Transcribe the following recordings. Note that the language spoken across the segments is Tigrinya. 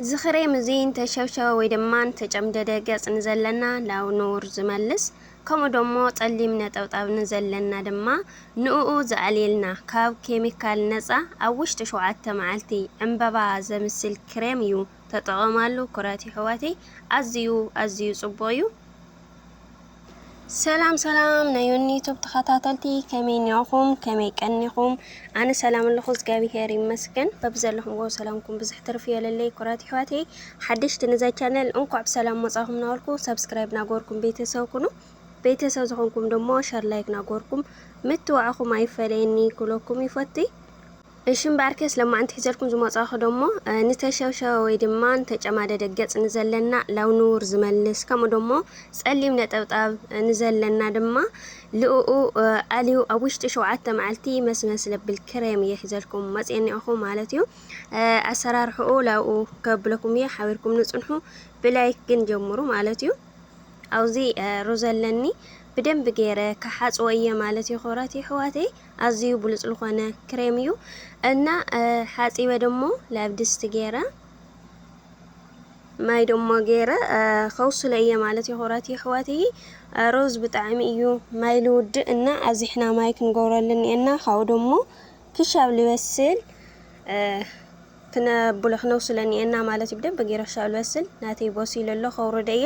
ዝኽሬም እዚ እንተሸብሸበ ወይ ድማ እንተጨምደደ ገጽ ንዘለና ናብ ንቡር ዝመልስ ከምኡ ደሞ ጸሊም ነጠብጣብ ንዘለና ድማ ንኡኡ ዘዕልይልና ካብ ኬሚካል ነጻ ኣብ ውሽጢ ሸውዓተ መዓልቲ ዕንበባ ዘምስል ክሬም እዩ ተጠቐማሉ ኩራት የሕዋተይ ኣዝዩ ኣዝዩ ጽቡቕ እዩ። ሰላም ሰላም ናይ ዮኒ ዩቱብ ተኸታተልቲ ከመይ ኒኹም ከመይ ቀኒኹም ኣነ ሰላም ኣለኹ እግዚኣብሄር ይመስገን በብዘለኹምዎ ሰላምኩም ብዙሕ ትርፊ የለለይ ኩራት ይሕዋተይ ሓደሽቲ ነዛ ቻነል እንኳዕ ብሰላም መጻኹም ናበልኩ ሰብስክራይብ ናጎርኩም ቤተሰብ ኩኑ ቤተሰብ ዝኾንኩም ደሞ ሸር ላይክ ናጎርኩም ምትዋዕኹም ኣይፈለየኒ ክብለኩም ይፈትይ እሺ እምበኣር ከስ ለማዓንቲ ሒዘልኩም ዝመጻኹ ደሞ ንተሸብሸበ ወይ ድማ ንተጨማደደ ገጽ ንዘለና ላው ንውር ዝመልስ ከምኡ ደሞ ጸሊም ነጠብጣብ ንዘለና ድማ ልኡኡ ኣልዩ ኣብ ውሽጢ ሸውዓተ መዓልቲ መስመስ ለብል ክሬም እየ ሒዘልኩም መጽየ እኒኦኹ ማለት እዩ ኣሰራርሕኡ ላኡ ከብለኩም እየ ሓቢርኩም ንጽንሑ ብላይክ ግን ጀምሩ ማለት እዩ ኣውዚ ሩዝ ኣለኒ ብደንብ ገይረ ክሓጽዎ እየ ማለት እዩ ክብራት የሕዋተይ ኣዝዩ ብሉጽ ልኾነ ክሬም እዩ እና ሓጺበ ደሞ ላብ ድስቲ ገይረ ማይ ደሞ ገይረ ከውስሎ እየ ማለት ይኹረት ይሕወት ሮዝ ብጣዕሚ እዩ ማይ ልውድእ እና ኣዚሕና ማይ ክንገብረሉ እኒኤና ካብኡ ደሞ ክሻብ ልበስል ክነብሎ ክነውስሎ እኒኤና ማለት እዩ ብደንብ ገይረ ክሻብ ልበስል ናተይ በሲሉ ኣሎ ከውርደ እየ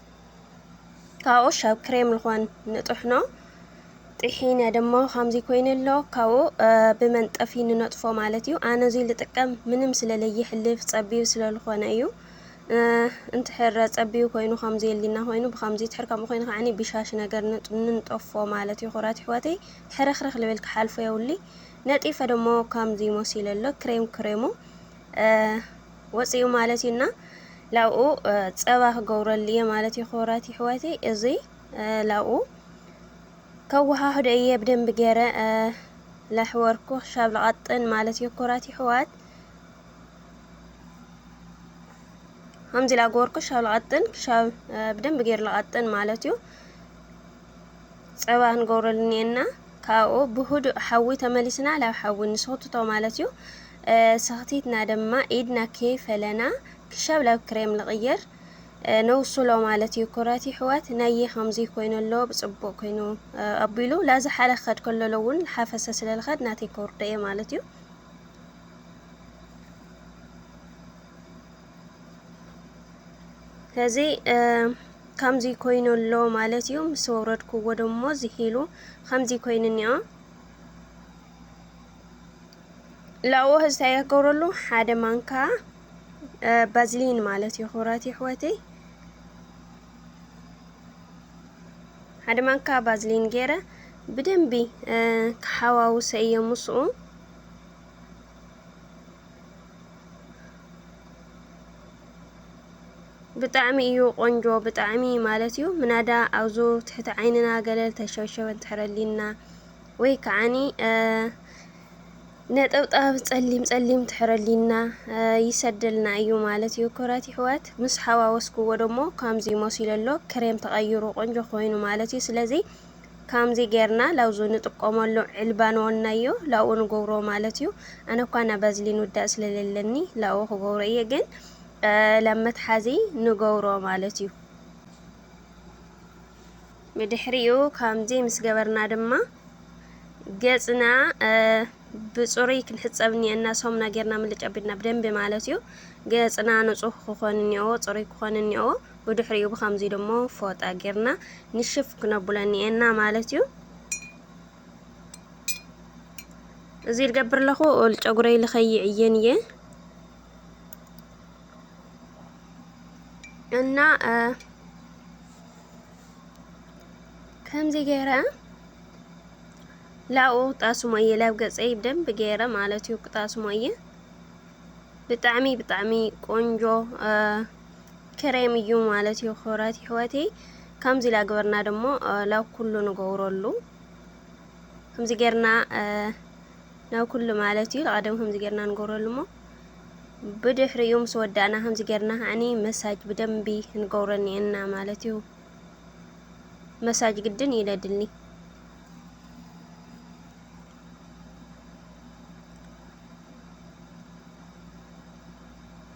ካብኡ ሻብ ክሬም ልኾን ንጥሕኖ ጥሒነ ድማ ከምዚ ኮይኑ ኣሎ ካብኡ ብመንጠፊ ንነጥፎ ማለት እዩ ኣነ እዙይ ልጥቀም ምንም ስለለይሕልፍ ጸቢብ ስለልኾነ እዩ እንትሕረ ጸቢብ ኮይኑ ከምዚ የሊና ኮይኑ ብከምዚ ትሕር ከምኡ ኮይኑ ከዓኒ ብሻሽ ነገር ንንጠፎ ማለት እዩ ኩራት ይሕዋተይ ሕርኽርኽ ልብል ክሓልፎ የውሊ ነጢፈ ደሞ ከምዚ ሞሲለ ኣሎ ክሬም ክሬሙ ወጺኡ ማለት እዩ እና ላብኡ ጸባ ክገብረሉ እየ ማለት እዩ። ክብራት ይሕወተይ እዙይ ላብኡ ከወሃህዶ እየ ብደንብ ገረ ላሕወርኩ ክሻብ ልቐጥን ማለት እዩ። ክብራት ይሕዋት ከምዚ ላገበርኩ ክሻብ ልቐጥን ክሻብ ብደንብ ገይር ልቐጥን ማለት እዩ። ጸባ ክንገብረሉ ኔና ካብኡ ብህዱእ ሓዊ ተመሊስና ላብ ሓዊ ንስኽትቶ ማለት እዩ ሰኽቲትና ድማ ኢድና ከይ ፈለና ክሻብ ላብ ክሬም ልቕየር ነውስሎ ማለት እዩ ኩራት ይሕዋት ናየ ከምዚ ኮይኑ ኣሎ ብጽቡቕ ኮይኑ ኣቢሉ ላዚ ሓለ ክኸድ ከለሎ እውን ሓፈሰ ስለ ልኸድ ናተይ ከውርዶ እየ ማለት እዩ ከዚ ከምዚ ኮይኑ ኣሎ ማለት እዩ ምስ ወረድክዎ ደሞ ዝሂሉ ከምዚ ኮይኑ እኒኦ ላዎ ህዝታይ ያገብረሉ ሓደ ማንካ ባዝሊን ማለት እዩ ክብራት ይሕወተይ ሓደ ማንካ ባዝሊን ገይረ ብደንቢ ክሓዋውሰ እየ ምስኡ ብጣዕሚ እዩ ቆንጆ ብጣዕሚ ማለት እዩ ምናዳ ኣብዙ ትሕቲ ዓይንና ገለ ልተሸብሸበ ትሕረሊና ወይ ከዓኒ ነጠብጣብ ጸሊም ጸሊም ትሕረሊና ይሰደልና እዩ ማለት እዩ። ክብረት ይሕወት ምስ ሓዋወስክዎ ደሞ ከምዚ መሲሉ ኣሎ ክሬም ተቐይሩ ቆንጆ ኮይኑ ማለት እዩ። ስለዚ ካምዚ ገርና ላውዙ ንጥቆመሉ ዕልባ ንወናዮ ላኡ ንገብሮ ማለት እዩ ኣነ እኳ ና ባዝሊን ውዳእ ስለለለኒ ላኡ ክገብሮ እየ ግን ላብ መትሓዚ ንገብሮ ማለት እዩ ብድሕሪኡ ካምዚ ምስ ገበርና ድማ ገጽና ብጽሩይ ክንሕጸብ እኒአና ሰሙና ጌርና ምልጭ ኣቢልና ብደንቢ ማለት እዩ ገጽና ንጹህ ክኾን እኒኦ ጽሩይ ክኾን እኒኦ ብድሕሪኡ ብኸምዚ ድሞ ፎጣ ጌርና ንሽፍ ክነብሎ ኒኤና ማለት እዩ። እዚ ልገብር ኣለኹ ጨጉረይ ልኸይዕየን እየ እና ከምዚ ገይረ ላኡ ጣስሞ እየ ላብ ገፀይ ብደንብ ገይረ ማለት እዩ ክጣስሞ እየ ብጣዕሚ ብጣዕሚ ቆንጆ ክሬም እዩ ማለት እዩ ክብረት ይሕወተይ ከምዚ ኢላ ግበርና ደሞ ላብ ኩሉ ንገብረሉ ከምዚ ጌርና ናብ ኩሉ ማለት እዩ ቀደም ከምዚ ጌርና ንገብረሉ እሞ ብድሕሪኡ ምስ ወዳእና ከምዚ ጌርና ከዓኒ መሳጅ ብደንቢ ንገብሮ እኒአና ማለት እዩ። መሳጅ ግድን ይለድልኒ።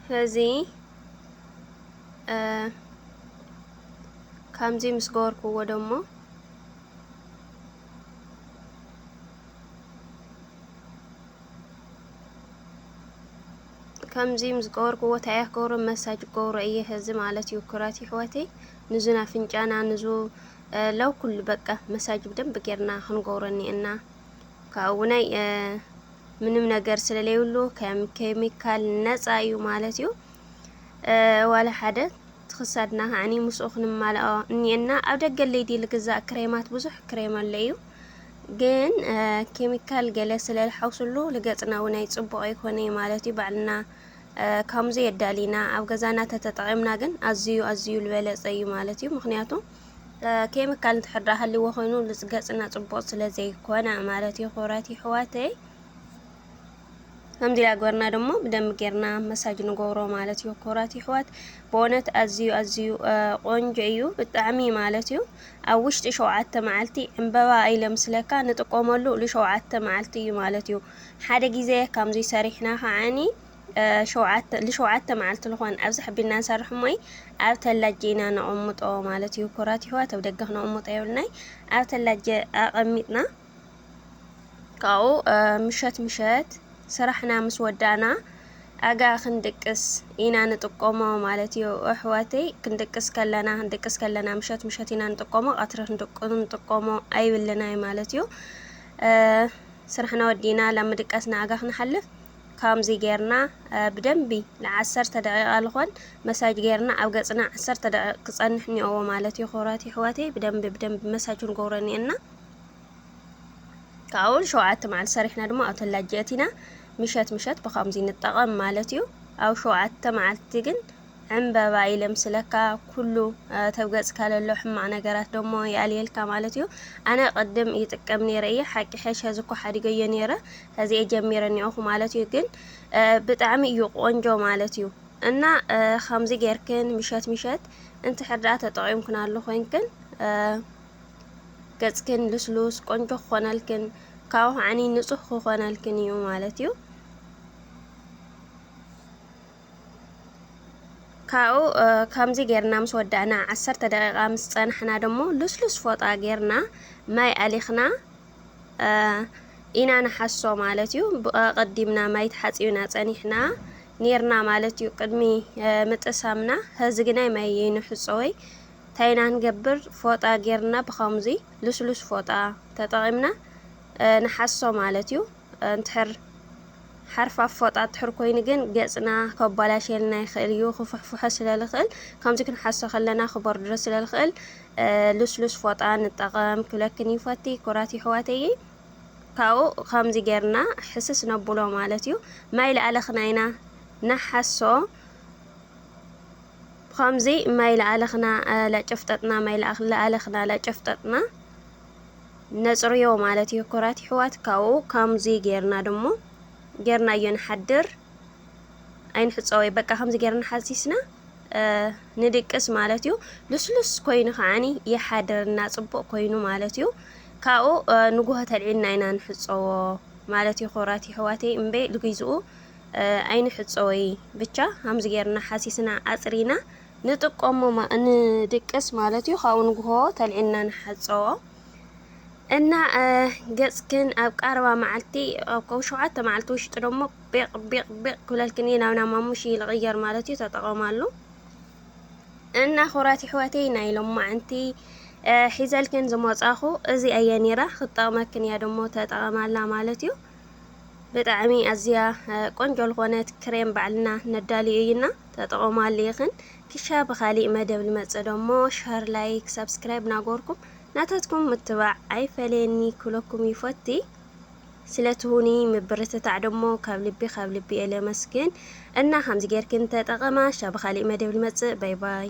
ስለዚ ከምዚ ምስ ገበርክዎ ደሞ ከምዚ ምስ ገበርክዎ እንታይ እየ ክገብሮ መሳጅ ክገብሮ እየ ኸዚ ማለት እዩ ክብራት ይሕወተይ ንዙ ናፍንጫና ንዙ ለው ኩሉ በቃ መሳጅ ብደንብ ጌርና ክንገብሮ እኒኤና ካብኡ ውናይ ምንም ነገር ስለለይብሉ ከም ኬሚካል ነጻ እዩ ማለት እዩ ዋላ ሓደ ትክሳድና ከዓኒ ምስኡ ክንማልኦ እኒኤና ኣብ ደገ ለይዲ ልግዛእ ክሬማት ብዙሕ ክሬም ኣሎ እዩ ግን ኬሚካል ገለ ስለ ዝሓውስሉ ልገጽና እውን ኣይጽቡቕ ኣይኮነ ማለት እዩ ባዕልና ካሙዚ የዳሊና ኣብ ገዛና ተተጠቒምና ግን ኣዝዩ ኣዝዩ ልበለጸ እዩ ማለት እዩ ምክንያቱ ኬሚካል እንድሕር ደኣ ሃልዎ ኮይኑ ገጽና ጽቡቕ ስለ ዘይኮነ ማለት እዩ። ክብራት ይሕዋተይ ከምዚ ዳገርና ደሞ ብደም ጌርና መሳጅ ንገብሮ ማለት እዩ። ክብራት ይሕዋት ብእውነት ኣዝዩ ኣዝዩ ቆንጆ እዩ ብጣዕሚ ማለት እዩ። ኣብ ውሽጢ ሸውዓተ መዓልቲ ዕምበባ ኣይለምስለካ ንጥቀመሉ ንሸውዓተ መዓልቲ እዩ ማለት እዩ። ሓደ ግዜ ከምዙይ ሰሪሕና ከዓኒ ሸውዓተ ልሸውዓተ መዓልቲ ልኾን ኣብዚ ሕቢልና ንሰርሕ እሞይ ኣብ ተላጀ ኢና ነቐምጦ ማለት እዩ ኩራት ይህዋት ኣብ ደገ ክነቕምጦ የብልናይ ኣብ ተላጀ ኣቐሚጥና ካብኡ ምሸት ምሸት ስራሕና ምስ ወዳእና ኣጋ ክንድቅስ ኢና ንጥቀሞ ማለት እዩ ኣሕዋተይ ክንድቅስ ከለና ክንድቅስ ከለና ምሸት ምሸት ኢና ንጥቀሞ ቀትሪ ክንድቅ ንጥቀሞ ኣይብልናይ ማለት እዩ ስራሕና ወዲእና ላብ ምድቃስ ንኣጋ ክንሓልፍ ካምዚ ጌርና ብደንቢ ልዓሰርተ ደቂቃ ልኾን መሳጅ ጌርና ኣብ ገጽና ዓሰርተ ደቂቅ ክጸንሕ ኒኦዎ ማለት እዩ ክብራት ይሕዋተይ ብደንቢ ብደንቢ መሳጅ ክንገብሮ ኒኤና ካብኡ ሸውዓተ መዓልቲ ሰሪሕና ድማ ኣብተን ላጅ ኣቲና ምሸት ምሸት ብካምዚ ንጠቐም ማለት እዩ ኣብ ሸውዓተ መዓልቲ ግን ዕንበባ ይለምስለካ ኩሉ ተብ ገጽካ ለሎ ሕማቅ ነገራት ደሞ ይኣልየልካ ማለት እዩ ኣነ ቅድም ይጥቀም ነይረ እየ ሓቂ ሐሽ ሐዚ እኮ ሓዲገዮ ነይረ ሐዚ እየ ጀሚረ ኒኦኩ ማለት እዩ ግን ብጣዕሚ እዩ ቆንጆ ማለት እዩ እና ከምዚ ጌርክን ምሸት ምሸት እንትሕር ደኣ ተጠቂምክናሉ ኮይንክን ገጽክን ልስሉስ ቆንጆ ክኾነልክን ካብኡ ከዓኒ ንጹህ ክኾነልክን እዩ ማለት እዩ ካብኡ ከምዚ ጌርና ምስ ወዳእና ዓሰርተ ደቂቃ ምስ ጸናሕና ደሞ ልስሉስ ፎጣ ጌርና ማይ ኣሊኽና ኢና ንሓሶ ማለት እዩ። ብቀቀዲምና ማይ ተሓጺብና ጸኒሕና ኔርና ማለት እዩ ቅድሚ ምጥሳምና ሀዚ ግናይ ማይ ይንሕጾ ወይ ታይና ንገብር ፎጣ ጌርና ብከምዚ ልስሉስ ፎጣ ተጠቂምና ንሓሶ ማለት እዩ። እንድሕር ሓርፋፍ ፎጣ ድሕር ኮይኑ ግን ገጽና ከባላሸየልና ይኽእል እዩ፣ ክፉሕፉሖ ስለ ልኽእል ከምዚ ክንሓሶ ከለና ክበርድዶ ስለ ልኽእል ልስሉስ ፎጣ ንጠቐም ክብለክን ይፈቲ ኩራት ይሕዋተይይ ካብኡ ከምዚ ጌርና ሕስስ ነብሎ ማለት እዩ ማይ ልኣለኽና ኢና ንሓሶ ከምዚ ማይ ልኣለኽና ለጨፍጠጥና ማይ ልኣለኽና ለጨፍጠጥና ነጽርዮ ማለት እዩ ኩራት ይሕዋት ካብኡ ካምዙይ ገርና ድሞ ገርናዮ ንሓድር ኣይንሕጸወይ በቃ ከምዚ ገርና ሓሲስና ንድቅስ ማለት እዩ ልስሉስ ኮይኑ ከዓኒ ይሓድርና ጽቡቅ ኮይኑ ማለት እዩ ካብኡ ንጉሆ ተልዒልና ኢና ንሕጸዎ ማለት እዩ ኩራት ይሕዋተይ እምበይ ልግዝኡ ኣይንሕጸወይ ብቻ ከምዚ ገርና ሓሲስና ኣጽሪና ንጥቀሞ ማእ ንድቅስ ማለት እዩ ካብኡ ንግሆ ተልዒልና ንሓፀቦ እና ገፅክን ኣብ ቃረባ መዓልቲ ኣብ ከብ ሸውዓተ መዓልቲ ውሽጢ ደሞ ቢቅ ቢቅ ቢቅ ክብለልክን እዩ ናብ ናማሙሽ ይልቕየር ማለት እዩ ተጠቐማሉ እና ኩራት ይሕወተይ ናይ ሎማዓንቲ ሒዘልክን ዝመጻኹ እዚ ኣየ ነይራ ክትጠቕመክን እያ ደሞ ተጠቐማላ ማለት እዩ ብጣዕሚ ኣዝያ ቆንጆ ዝኾነት ክሬም ባዕልና ነዳልዮ እዩና ተጠቐማሉ ኢኽን ክሻ ብኻሊእ መደብ ልመጽእ ዶ እሞ ሸር ላይክ ሳብስክራይብ ናጎርኩም ናታትኩም ምትባዕ ኣይፈለየኒ ክብለኩም ይፎቲ ስለ ትሁኒ ምብርትታዕ ዶ እሞ ካብ ልቢ ካብ ልቢ እየ ለመስግን እና ከምዚ ጌርክን ተጠቐማ ክሻ ብኻሊእ መደብ ልመጽእ ባይ ባይ።